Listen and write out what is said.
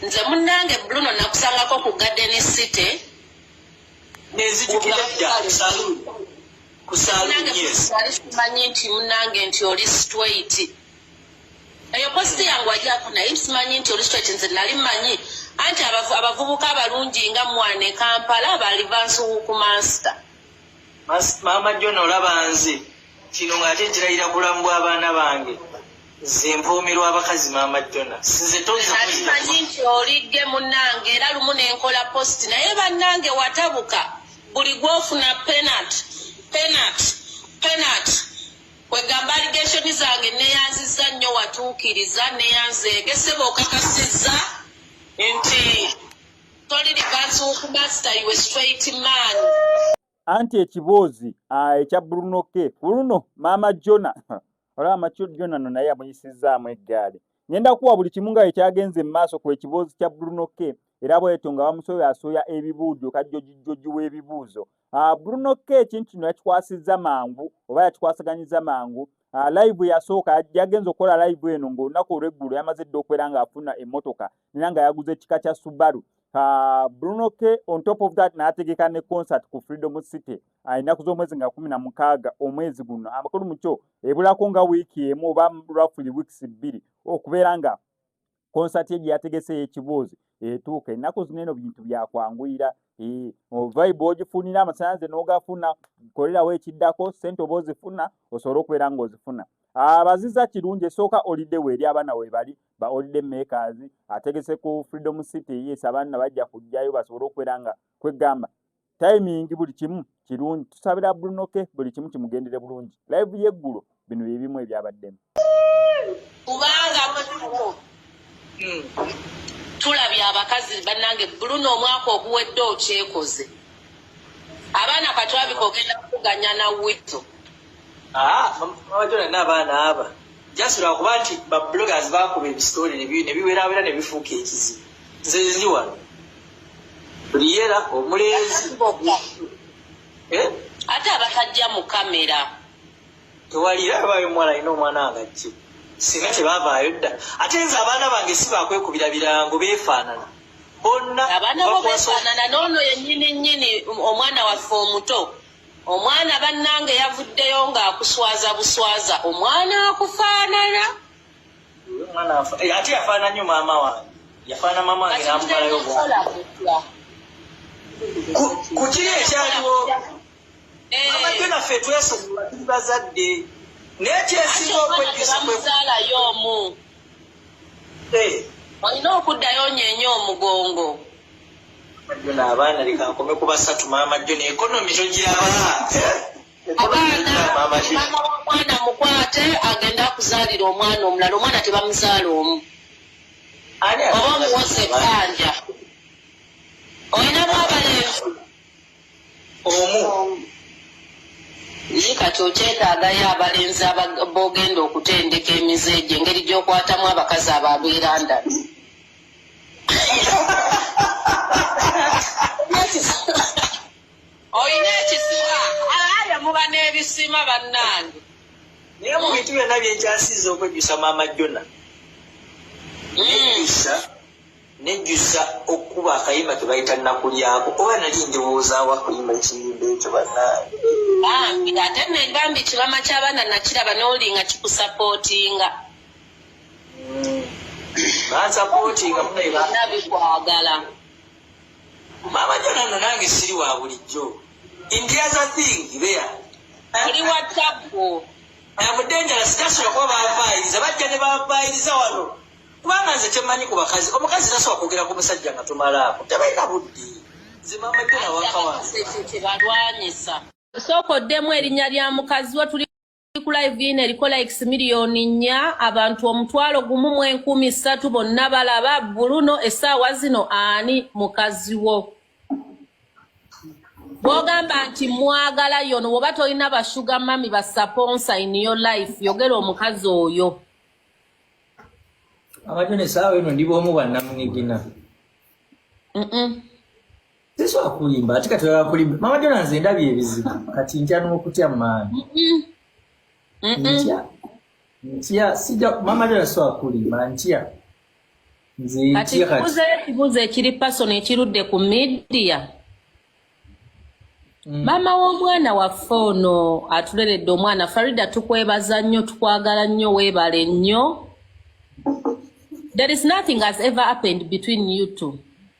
nze munnange bruno nakusangako ku garden city munange simanyi nti munange nti oli straight eyo positi yange wajako naye simanyi nti oli straight nze nali manyi anti abavubuka abalungi nga mwana ekampala bali bansuwuku mansita maama jona olaba nze kino nga ate nkirayira bulamu bw'abaana bange nze mpuumirwa abakazi maama jona sinze tozimanyi nti olidde munange era lumu nenkola positi naye bannange watabuka buli gwofuna penat penat penat Kwegamba allegation zange neyanziza nnyo watuukiriza neyanzeege sebo okakasizza nti toli likansi wokumasita iwe straight man anti ekiboozi ah, ekya bruno ke kuluno maama jona olaba maco jona no naye amuyisizzaamu eggaali ngenda kuwa buli kimu nga ekyagenze mu maaso ku ekiboozi kya bruno ke era bwetyo nga bamusoya asoya ebibuujo kajjojijjoji w'ebibuuzo Ah, Bruno K ekintu kino yakikwasizza mangu oba yakikwasaganyizza mangu ah, live yasooka yagenza okukola live eno ng'olunaku olw'eggulo yamaze dda okubeera ng'afuna emmotoka era nga yaguze ekika kya Subaru ah, Bruno K on top of that n'ategeka ne concert ku Freedom City ennaku z'omwezi nga kumi na mukaaga omwezi guno amakulu mu kyo ebulako nga wiiki emu oba roughly weeks bbiri okubeera nga konsati ye gye yategese ey'ekibuuzi etuuka ennaku zino eno bintu byakwanguyira vibe ogifunira amasanze n'ogafuna kolerawo ekiddako sente oba ozifuna osobole okubeera ng'ozifuna abaziza kirungi esooka olidde weeri abaana webali ba olidde makers ategese ku freedom city yes abaana bajja kujjayo basobole okubeera nga kwegamba timing buli kimu kirungi tusabira brunoke buli kimu kimugendere bulungi live yeggulo bino byebimu ebyabaddemu kubanga hmm. tulabye abakazi bannange bruno omwaka oguwedde okyekoze abaana katwabika ogenda kukuganya na wito ah, abajonana abaana aba just lwakuba nti babloggers bakuba ebisitole nebiwerawera nebifuuka ekizibu nze ndi wano liyera omulenzi eh? ate abakajja mu kamera tewalira abayo omuwala alina omwana wangajje singa tebavaayo dda ate nze abaana bange si bakwekubira birango beefaanana bonna abaana bo beefaanana noono yennyini nnyini omwana waffe omuto omwana bannange yavuddeyo ng'akuswaza buswaza omwana akufaanana Eh, ate yafaana nnyo maama wange yafaana maama wange namumalayo ku kiri ekyaliwo eh. amajjo naffe twesonyiwa tuli bazadde naye kyesinga okwejjusamuzaalayo omu eh. olina okuddayo nyenye omugongo abaana lekankome ku basatu maama jjo ne ekonomi togiraba omwana mukwate agende akuzaalira omwana omulala omwana tebamuzaala omu oba omuwoza ebbanja olinamu abalenzi omu naye kati okyetaagayo abalenzi bogenda okutendeka emize egyo engeri gyokwatamu abakazi abo abeeranda olina ekisima alaaya muba n'ebisima bannange naye mu bintu byonna byenkyasiiza okwejjusa maama jona hmm. nejjusa nejjusa okukuba akayimba kebayita nakulyako oba nali ndowoozawo akuyimba ekiyimba ekyo bannange bambi ate nebambi kibama kyabaana nakiraba nolinga kikusapootinga hmm. bansapootinga munabikwagala Mama jona no nange siri wa bulijjo. In the other thing there. Ali wa tabu. Abu denja la sitasi kwa bafailiza bajja ne bafailiza wano. Kubanga nze kyemanyi ku bakazi. Omukazi tasobola kwogera ku musajja nga tumala ako. Tebalina buddi. Nze mama jona wakawa. Soko demu erinya lya mukazi wo tuli ku live ino eriko likes miliyoni nnya abantu omutwalo gumu mu enkumi ssatu bonna balaba buluno essaawa zino ani mukazi wo bwogamba nti mwagala yono woba tolina bashuga mami basaponsa in your life yogera omukazi oyo abajo nesaawa eno ndi bwomu banamunigina tesobola kulimba ate kati oyagala kulimba mama jona nze ndabye ebizibu kati ntya n'okutya maani ntya ntya sija mama jona sobola kulimba ntya nze ntya kati ekibuuzo ekiri pasono ekirudde ku midiya Mm. maama w'omwana waffe ono atuleredde omwana farida tukwebaza nnyo tukwagala nnyo weebale nnyo there is nothing has ever happened between you two